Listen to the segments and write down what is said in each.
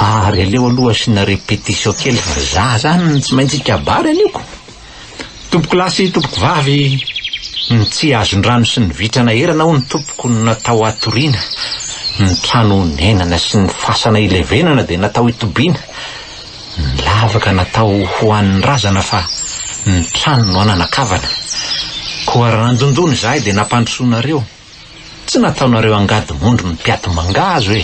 Ary aleo aloha asiana répétition kely fa za zany tsy maintsy hikabary anio ko! Tompoko lahy sy tompoko vavy ny tsy azon-drano sy ny vitra naherana hono tompoko no natao hatoriana, ny trano honenana sy ny fasana hilevenana dia natao hitobiana, ny lavaka natao ho an'ny razana fa ny trano no hananakavana. Koa raha nandondona izahay dia nampandrosoanareo. Tsy nataonareo angady mondry ny mpiato mangahazo e!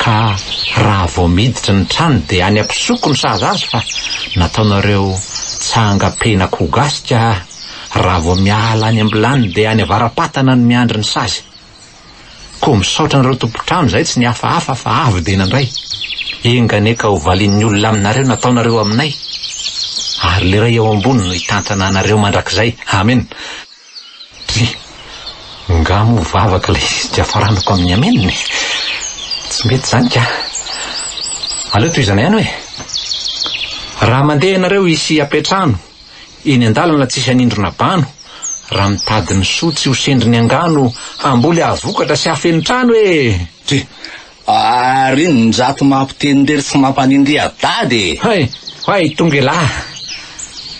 Ka raha vao miditra ny trano dia any ampisoko ny sazy azy fa nataonareo tsangam-pehin'akoho gasy ka raha vao miala any am-bilany dia any avara-patana no miandry ny sazy. Koa misaotra anareo tompon-trano izay tsy nihafahafa fa avy dia nandray. Enga anie ka ho valian'ny olona aminareo ny nataonareo aminay. Ary le Ray ao ambony no hitantana anareo mandrakizay. Amena. Tsia, ngah moa vavaka ilay izy dia faranako amin'ny amen e! Tsy mety izany ka! Aleo tohizana ihany hoe, Raha mandeha ianareo hisy hapetrano eny an-dalana tsisy hanindrona bano, raha mitady ny soa tsy ho sendrin'ny angano hamboly hahavokatra sy hahafeno trano e! Tsia, Ary inonjato mampiteny irery tsy mampanindry a dada e! Hay! Hay tonga elah!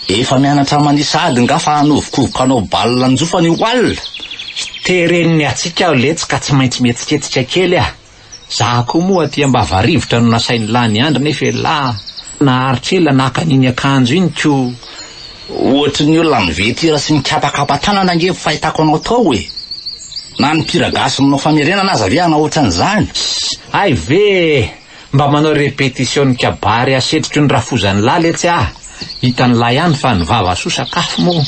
Efa mianatra manisa ady nga fa hanovokovoka hanao bal anjofana io oal! Hitereny ny hatsiaka aho letsy ka tsy maintsy mihetsiketsika kely ah! Za koa moa aty ambava rivotra no nasain'lah niandry nefa elah! Naharitra ela naka an'iny akanjo iny ko! Ohatry ny olona mivetira sy mikapakapa tanana ange ny fahitako anao tao e! Na ny mpihira gasy manao famerenana aza ve hanao ohatran' izany? Hay ve e! Mba manao répétition ny kabary hasetroky ny rafozan'ilala etsy ah! Hitan'lah ihany fa ny vava soa sakafo moa!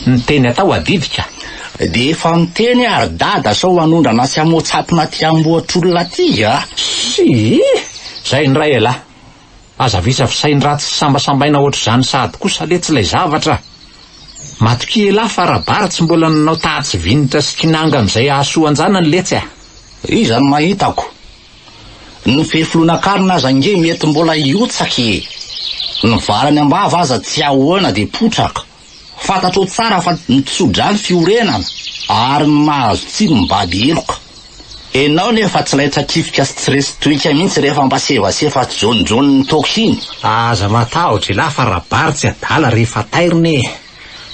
Ny teny atao adidika! Dia efa miteny aho ry dada sao hanondrana sy hamoatsatina aty amboatr'olona aty ah! Sii! Zay indray elah! Aza visa fisainy raha tsy sambasambaina hoatr'izany sahady kosa letsy ilay zavatra. Matokia elah fa Rabary tsy mbola nanao tahatsy Vinitra sy Kinanga amin'izay hahasoa an-janany letsy a! Iza no mahitako? Ny fefilohan'akarina aza ange mety mbola hiotsaka e! Ny valany am-bava aza tsy ahoana dia potraka! Fantatrao tsara fa ny tso-dra ny fiorenana ary ny mahazo tsiny mibady heloka. Enao nefa tsy laitrakifika sy tsy resy toika mihitsy rehefa mba sevasefa tsy jaonijaony ny toaka iny. Aza matahotra elah fa rabary tsy adala rehefa tairina e!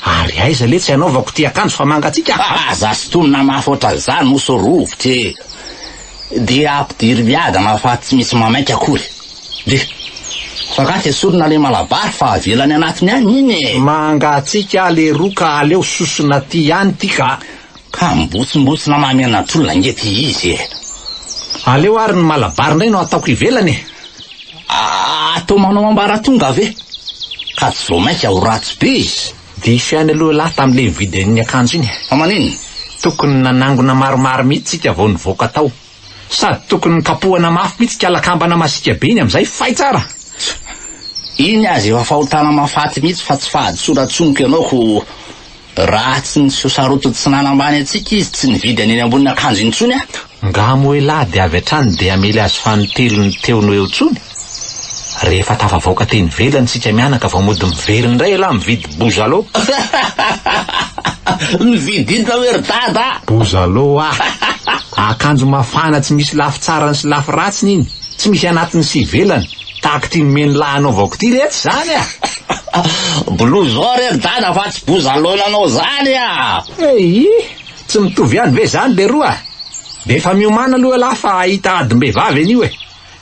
Ary aiza le tsy anaovako ity akanjo fa mangatsiaka? Aza sintonina mafy ohatran'izany hoso rovitra e! Dia ampidiry miadana fa tsy misy mamaika akory. Dia. Fa angaha tsy esorina ilay malabary fa avela any anatiny any iny e! Mangatsiaka aho leroa ka aleo sosona aty ihany ity ka! Ka mibotsimbotsina mahamenatr'olona ange ity izy e! Aleo ary ny malabary indray no ataoko ivelany e! Atao manao ambaratonga ve? Ka tsy vao mainka ho ratsy be izy! Diso ihany aloha lahy tamin'ilay nividin'ny akanjo iny e! Fa maninona? Tokony nanangona maromaro mihitsy isika vao nivoaka tao. Sady tokony nokapohana mafy mihitsy ka lakambana masiaka be iny amin'izay, fay tsara! Iny aza efa fahotana mahafaty mihitsy fa tsy fahadisoana tsonoko ianao ko raha tsy ny seho sarotiny tsy nanambany antsika izy tsy nividy an'eny ambonin'akanjo intsony aho. Angaha moa elah dia avy hatrany dia hamely azy fanintelony teo no eo intsony? Rehefa tafavoaka teny ivelany isika mianaka vao mody miverina indray elah mividy bozalo. Novidinao hoe ry dada a! Bozalo a! Akanjo mafana tsy misy lafy tsarany sy lafy ratsiny iny, tsy misy anatiny sy ivelany, tahaka ity nomen'lah anaovako ity re tsy izany a! Blouson re ry dada fa tsy bozalo nanao izany a! Eii! Tsy mitovy ihany ve izany leroa? Dia efa miomàna aloha elah fa hahita adim-behivavy anio e!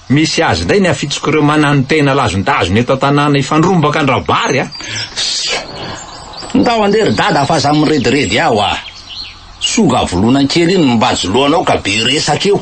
Misy azy indray ny afitsoko ireo mananotena lazondazona eto an-tanàna hifandrombaka an-dRabary a! Ndao andeha ry dada fa aza mirediredy aho a! Songa volona kely iny mibajo lohanao ka be resaka io!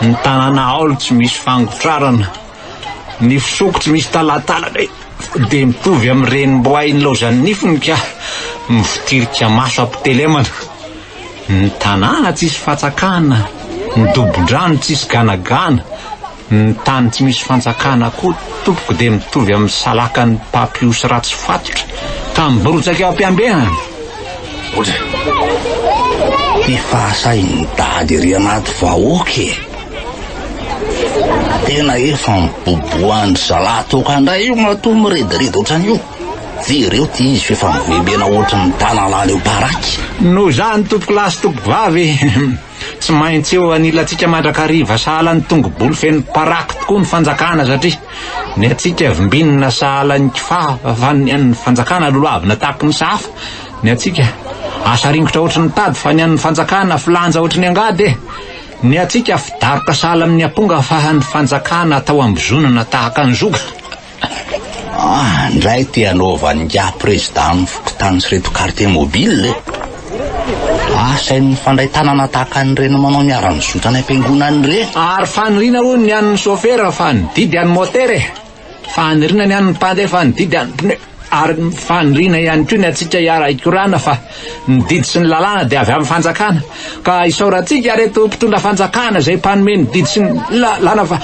ny tanàna aolo tsy misy fangotrarana, ny fisoko tsy misy talantalana dia mitovy amin'ny renim-boay nilaozan'ny nifiny ka mivotirika maso am-pitelemana, ny tanàna tsisy fatsakana, ny dobon-drano tsisy ganagana, ny tany tsy misy fantsakana koa tompoko dia mitovy amin'ny salakan'ny papiosy ratsy fatotra ka miborotsaky eo am-piambenana. Otra. Ty fahasahin'ny dada ery anaty vahoaka e! Tena efa miboboan-dry zalahy toaka ndray io matoa mirediredy otran'io! Jereo ty izy f'efa mivembena otran'ny tanalahy leoparaky! Noho izany tompokolahy sy tompokovavy e! Tsy maintsy eo anilantsika mandrakariva sahala ny tongo-bolo feno paraky tokoa ny fanjakana satria ny antsika vimbinina sahala ny kifafa fa ny an'ny fanjakana lolohavina tahaka ny sahafa, ny antsika asa ringotra ohatry ny tady fa ny an'ny fanjakana filanja ohatry ny angady e! ny antsika fidaroka sahala amin'ny amponga fa ny fanjakana atao ambozonana tahaka ny zoga. Ah, ndray te hanaova an'ingahy prezida amin'ny fokontany sy ireto quartier mobile e! Asainy mifandray tanana tahaka an'ireny manao ny ara-mizotra any am-piangonana ireny. Ary faniriana hono ny an'ny sôfera fa ny didy an'ny môtera e! Faniriana ny an'ny mpandeha fa ny didy an'ny pneu! Ary faniriana ihany koa ny antsika hiara-hikorana fa. Ny didy sy ny lalàna dia avy amin'ny fanjakana ka isaorantsika reto mpitondra fanjakana izay mpanome ny didy sy ny lalàna fa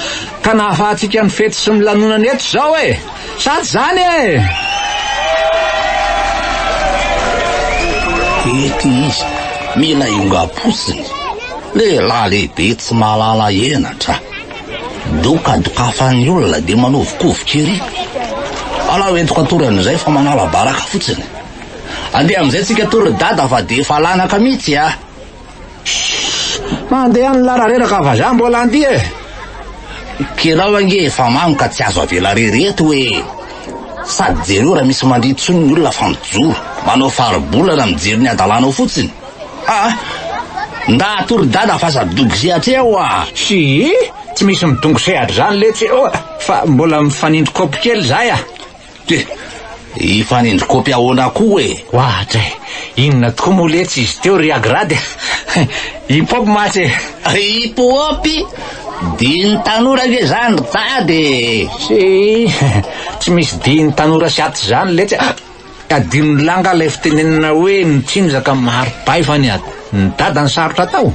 ka nahafahantsika ny fety sy ny lanonana eto izao e! Sa tsy izany e! Ity izy mila iongam-potsiny, lehilahy lehibe tsy mahalala henatra. Doka dokafan'ny olona dia manovokovoka ery. Alao entiko an-toerana izay fa manala baraka fotsiny. Andeha amin'izay tsika to ry dada fa dia efa lanaka mihitsy a! Shhh! Andeha any lara reraka vazaha mbola handia e! Kerao ange efa mamy ka tsy azo avela rery eto hoe! Sady jereo raha misy mandria intsony ny olona fa mijoro, manao faribolana mijery ny hadalanao fotsiny! Aa! Ndaha to ry dada fa aza dogy sehatra eo a! Shii! Tsy misy midongy sehatra izany letsy eo a! Fa mbola mifanindry kaopy kely izahay a! He! Hifanindry kopy ahoana koa e! Wahatra e! Inona tokoa moa letsy izy teo ry Agrad e! Hip hop mantsy e! Hip hop? Dihin'ny tanora ve izany ry tady e! Tsia! Tsy misy dihin'ny tanora sy aty izany letsy a! Adinon'i Lah angaha ilay fitenenana hoe ny tsinjaka mari-bay fa ny ady ny dada no sarotra atao?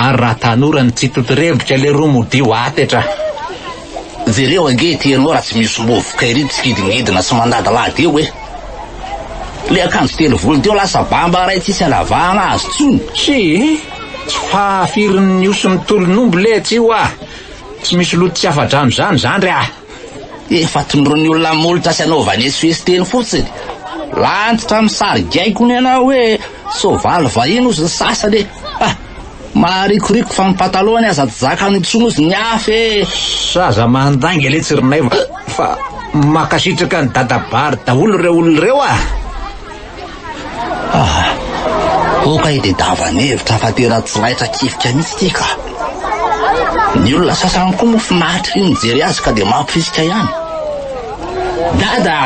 Ary raha tanora ny tsy totorebika leroa modio aty etra! Jereo ange ity ianao raha tsy misy vovoka ery mpitsikidingidina sy mandadilady eo e! Le akanjo telo volony teo lasa bamba iray tsisy anavahana azy tsony. Hii, tsy fahafirin'ny osy ny tolon'omby letsy io ah! Tsy misy loto tsy afa-drano izany zandry ah! Efa tondroin'ny olona molotra sy anaovany esoeso teny fotsiny. Lantitra misary gaikona ianao hoe soavaly vahiny ozy ny sasany e! Ah! Maharikoriko fa ny patalohany aza tsy zakany intsony ozy ny afo eh! Sa aza mandainga letsy ry Naivo fa mankasitraka an'i Dadabary daholo ireo olona ireo ah! Ah! Oh kay dia davan'ny hevitra fa tena tsy laitra kifika mihitsy ity ka! Ny olona sasany koa moa finaritra iny mijery azy ka dia mampirisika ihany! Dada!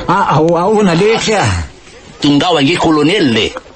Ah, ah, ahoana letsy ah! Tongava ange kolonely e!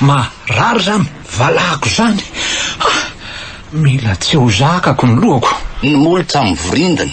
Marary zany valahako zany ah, mila tsy ho zakako ny lohako. Ny molotra mivorindina,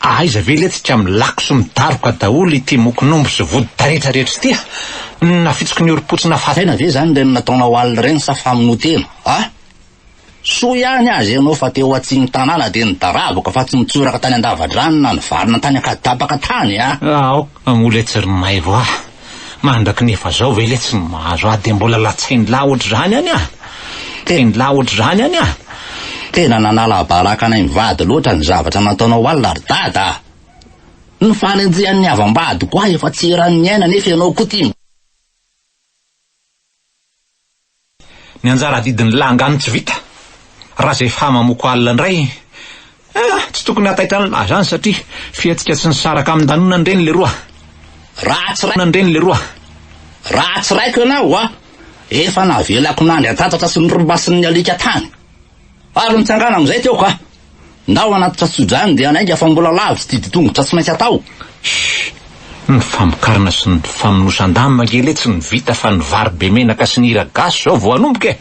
Aiza ve le tsika milako sy midaroka daholo ity mokonombo sy vody taretra rehetra ity a! Na fitsiky ny orom-potsina fa. Tena ve zany ireny nataonao alina ireny sa famonoan-tena a! Soa ihany aza ianao fa teo atsimon'ny tanàna dia nidaravaka fa tsy nitsoraka tany an-dava-drano na nivarina tany an-kadapaka tany a! Aoka moa le tsy ry maivo a! Mandraky ny efa zao ve le tsy mahazo ahy de mbola latsain lahy otrzany any aho? Teny lahy otrzany any aho? Tena nanala baraka anay mivady loatra ny zavatra nataonao alina ry dada ah! Ny fanenjehan'ny havam-badiko ahy efa tsy eran'ny aina nefa ianao koa tia Ny anjara adidin'ny langa no tsy vita. Raha izay fa mamoako alina indray, eh, tsy tokony hataitra an'la izany satria fihetsika tsy nisaraka amin-danona ndreny leroa. Raha tsy raiko ndreny leroa. Raha tsy raiko ianao, ah, efa navelako nandry an-tatatra sy ny r'masin'ny alika tany. Ary nitsangana amin'izay teo ka ndao anaty tratsojany dia nainga fa mbola lavo tsy didi-tongotra tsy maintsy atao. Shh! Ny famokarana sy ny famonosan-damba angelee tsy ny vita fa ny vary be menaka sy ny hira gasy izao vao hanomboka e!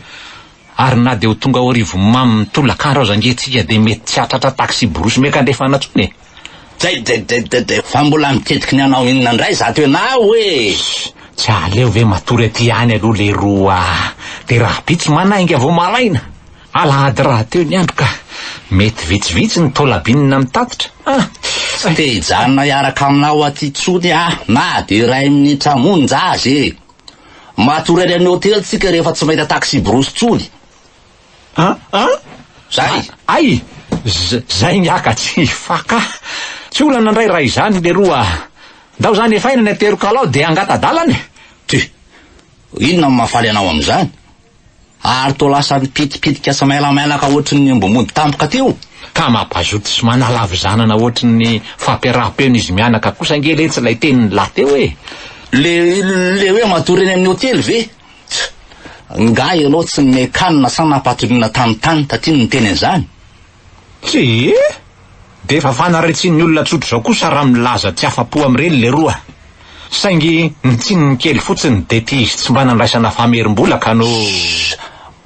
Ary na dia ho tonga ao Arivonimamo mitolakandro aza ange tsika dia mety tsy hahatratra taxi-brousse miaka-andrefana intsony e! Dedededede, fa mbola miketiky ny hanao inona indray izato ianao e! Tsy aleo ve matory aty ihany aloha leroa a! Dia rahabitsy manainga vao malaina! Alahady rahateo ny andro ka! Mety vitsivitsy ny taola binina mitatitra an! Tsy te hijanona hiaraka aminao aty intsony aho na dia iray minitra monja aza e! Matory any amin'ny hotely tsika rehefa tsy mahita taxi-brousse intsony! An? An? Zay? Ay! Zay ny haka tsy faka. Tsy olana ndray raha izany leroa. Ndao zany efaina ny aterokalao dia angata-dalana e. Ty! Inona no mahafaly anao amin'izany? Ary toa lasa mipitipitika sy mailamailaka ohatry ny omby mody tampoka teo. Ka mampazoto sy manala havizanana ohatry ny fampiaraham-peno izy mianaka kosa ange letsy ilay tenin'i lahy teo e. Le le hoe matory eny amin'ny hotely ve? Tch! Ngah ianao tsy nome kanina sa nampatolona tany tany taty no niteny an'izany? Tsia! Dia efa fanaritsian'ny olona tsotra izao kosa raha milaza tsy afa-po amin'ireny leroa. Saingy ny tsininy kely fotsiny dia tia izy tsy mba nandraisana famerim-bola ka no. Shh!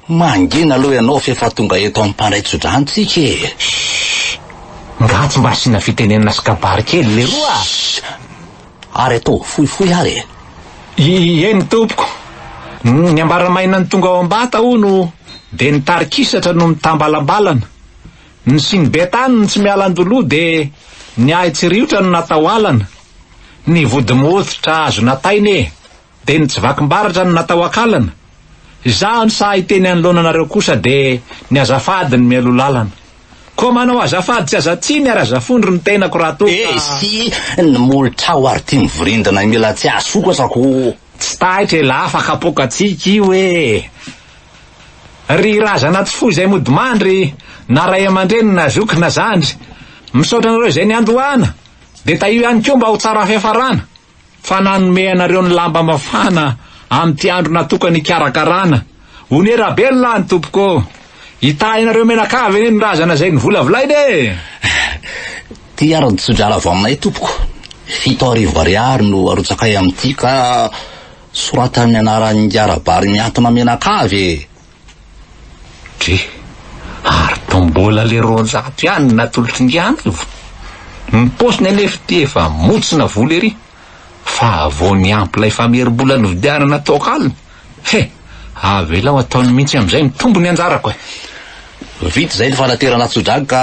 Mangina aloha ianao f'efa tonga eto amin'ny mpandray tsodrano tsika e! Shhh! Nga tsy mba asiana fitenenana sy kabary kely leroa a! Shhh! Ary ataovy fohifohy ary e! Ieny tompoko! Ny ambaramaina ny tonga ao Ambata hono dia ny tarikisatra no mitambalambalana. Ny siny be tany no tsy miala an-doloha dia ny ahy tsy riotra no natao alana. Ny vody moa tsy tra azona taina e! Dia ny tsy vaky mbaratra no natao akalana? Izaho no sahy hiteny anoloana anareo kosa dia ny azafady no mialoha lalana. Koa manao azafady tsy aza tsiny ary aza fondro ny tenako raha toa ka. Esy ny molotrao ary ity mivirindana io mila tsy asokatra ko. Tsy taitra e la fa kapokatsika io e! Ry razana tsy foy izay mody mandry na ray aman-dreny na zoky na zandry. Misaotra anareo izay niandohana dia tahio ihany koa mba ho tsara fiafarana. fa nanome anareo ny lamba mafana amin'ity andro natokany hikarakarana. One Rabelona any tompoko ô! Hitahy anareo menakavy anie ny razana izay novolavolaina e! Ity ary ny tso-drala avy aminay tompoko. Fito arivo ariary no arotsakay amin'ity ka sorata amin'ny anaran'ingahy Rabary mihantona menakavy e! Dre, ary tao mbola le roanjato ihany no natolotry ngy an'arivo? Ny paosiny anefa ty efa montsina vola ery fa vao niampy lay famerim-bola novidianana toaka alina, he! avelao ataony mihitsy amin'izay ny tombony anjarako e! Vita izay ny fanaterana tso-drano ka.